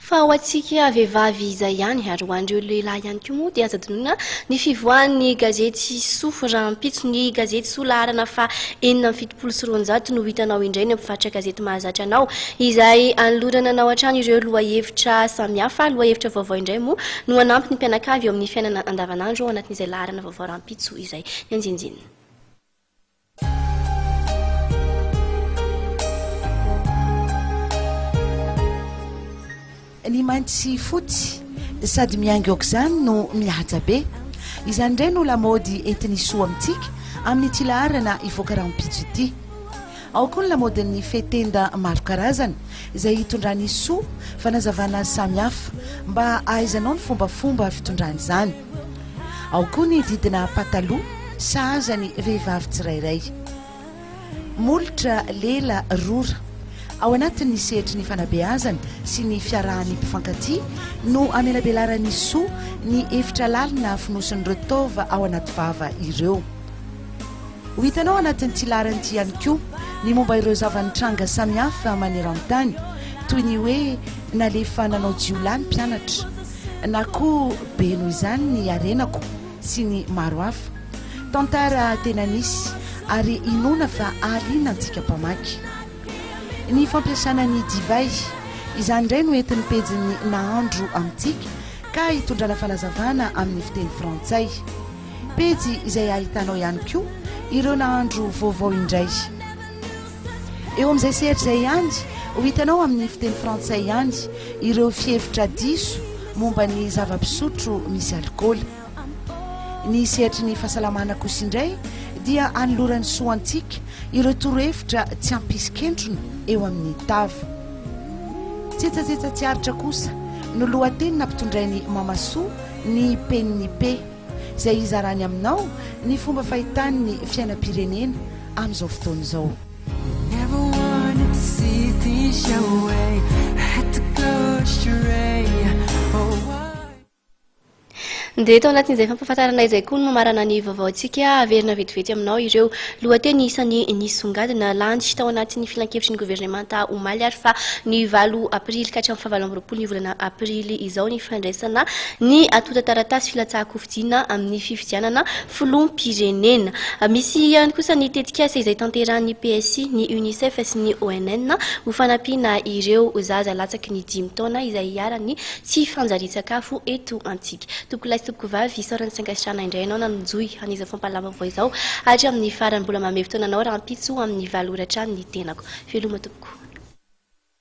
Fa ho antsika vehivavy izay ihany, ary ho an'ireo lehilahy ihany koa moa, dia aza adinoina ny fivoahan'ny gazety Soa rahampitso. Ny gazety Soa laharana faha enina amby fitopolo sy roanjato no hitanao indray eny amin'ny faritra gazety mahazatra anao, izay anolorana anao hatrany ireo lohahevitra samihafa. Lohahevitra vaovao indray moa no hanampy ny mpianakavy eo amin'ny fiainana andavanandro ao anatin'izay laharana vaovao rahampitso izay nianjinjinina. Ny mainty sy fotsy sady miainga aok'izany no mihaja be. Izany indray no lamaody entin'i Soa amintsika amin'ity laharana hivoaka rahampitso ity. Ao koa ny lamaodin'ny fehi-tenda maro karazana izay hitondran'i Soa fanazavana samihafa mba hahaizanao ny fombafomba fitondrany izany. Ao koa ny didina pataloha sahaza ny vehivavy tsirairay. Molotra lela rora ao anatin'ny sehatry ny fanabeazana sy ny fiarahan'ny mpifankatia no amelabelaran'ny soa ny efitra lalina afonosin'ireo taova ao anaty vava ireo. Ho hitanao anatin'ity laharana ity ihany koa ny momba ireo zava-nitranga samihafa maneran-tany toy ny hoe nalefa nanao jiolahy ny mpianatra, Na koa be noho izany ny harenako sy ny maro hafa. Tantara tena nisy ary inoana fa hahaliana antsika mpamaky. Ny fampiasana ny divay. Izany indray no entin'ny pejin'ny Nahandro amintsika ka hitondrana fanazavana amin'ny fiteny frantsay. Pejy izay ahitanao ihany koa ireo nahandro vaovao indray. Eo amin'izay sehatra izay ihany, ho hitanao amin'ny fiteny frantsay ihany ireo fihevitra diso momba ny zava-pisotro misy alikaola. Ny sehatry ny fahasalamana kosa indray dia anoloran'ny soantsika ireo torohevitra tsy hampisy kentrona eo amin'ny tava. Tsetsatsetsa tsy aritra kosa no lohateny nampitondrain'i Mamasoa ny Peniny Pe. izay hizarany aminao ny fomba fahitany ny fiainam-pirenena amin'izao fotoana izao. Dia tao anatin'izay fampahafantarana izay koa no mamarana ny vaovaontsika. Haverina vetivety aminao ireo lohateny isan'ny nisongadina. Landy tao anatin'ny filankevitry ny governemanta omaly ary fa ny valo aprily ka hatramin'ny fahavalo amby roapolo ny volana aprily izao. izao ny fandraisana ny antontan-taratasy filatsahan-kofidiana amin'ny fifidianana filoham-pirenena. Misy ihany kosa ny tetikasa izay tanterahan'ny PSI, ny Unicef sy ny ONN ho fanampiana ireo zaza latsaky ny dimy taona izay iharan'ny tsy fanjarian-tsakafo eto amintsika. Tompokolahy sy tompokovavy, isaorana sy ankasitrahana indray ianao nanonjohy an'izao fampahalalam-baovao izao hatramin'ny farany. Mbola manome fotoana anao rahampitso amin'ny valo ora hatrany ny tenako. Veloma tompoko.